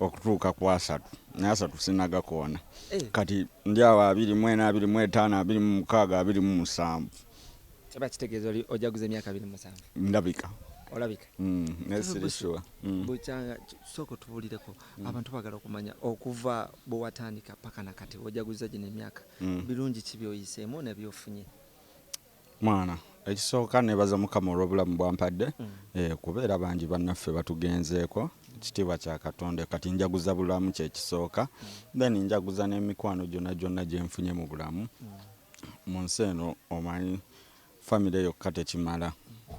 okutuuka ku asatu naye asatu sinagakoona eh. kati ndi awo abiri mu ena abiri mu etaano abiri mu mukaaga abiri mu musanvu kiba kitegeeza oli ojaguza emyaka abiri mu musanvu ndabika olabika mm, naye sirisua mm. bukyanga sooka otubulireko mm. abantu bagala okumanya okuva bwewatandika paka nakati ojaguza gino emyaka birungi ki byoyiseemu nebyofunye mwana ekisooka nebaza mukama olwobulamu bwampadde mm. eh, kuba era bangi bannaffe batugenzeeko ekitiibwa kya katonda kati njaguza bulamu kyekisooka mm. then njaguza n'emikwano gyonna gyonna gyenfunye mu bulamu mm. mu nsi eno omanyi famire yokka tekimala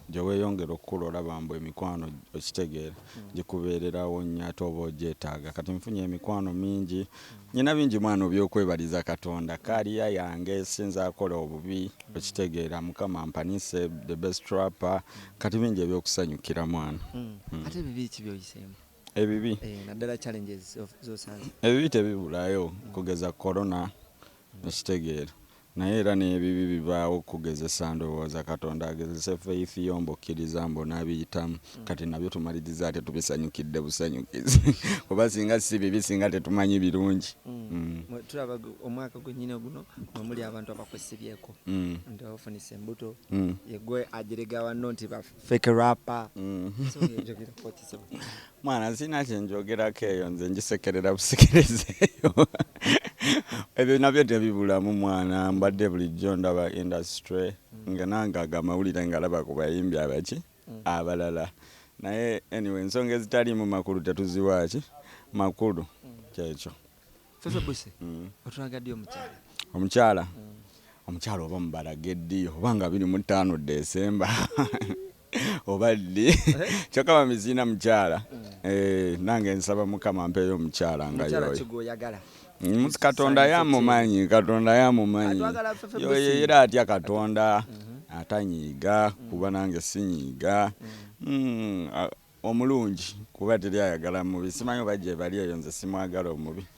gyeweyongera okukula olaba mbu emikwano okitegeera gikubeererawo nnyo ate oba ogyetaaga kati nfunye emikwano mingi Nyina bingi mwana obyokwebaliza katonda career yange sinza akola obubi okitegeera mukama ampanise the best trapper kati bingi ebyokusanyukira mwana mm. ate bibi ki byoyiseemu ebibi eh, naddala challenges zosanze ebibi tebibulayo kugeza corona mm. okitegeera Naye era n'ebibi bivaawo kukugezesa ndowooza Katonda agezese faith yo mbu okkiriza mbu onaabiyitamu kati nabyo tumaliriza ate tubisanyukidde busanyukizi kuba singa ssi bibi singa tetumanyi birungi mm. Mwe tulaba omwaka gwennyini guno mwe muli abantu abakwesibyeko mm. nti ofunise embuto mm. yegwe ajerega wanno nti baf, fake rapper mm. mwana nsina kyenjogerako eyo nze njisekerera busekereza eyo ebyo nabyo tebibulamu mwana mbadde bulijjo ndaba industry mm. nga nange ago amawulire ngalaba ku bayimbi abaki mm. abalala naye anyway ensonga ezitaliimu makulu tetuziwaaki makulu kyekyo Sasa buse mm. otulaga ddi omukyala omukyala mm. omukyala oba mubalage ddi oba nga biri mu ttaano desemba oba ddi eh? kyokka bamiziina mukyala mm. eh, nange nsaba mukama mpeeyo omukyala nga yoyoyagala mm, katonda yamumanyi katonda yamumanyi yoyo era atya katonda mm-hmm. atanyiiga mm. kuba nange sinyiiga omulungi kuba teri ayagala mubi simanyi oba gyebali eyo nze simwagala omubi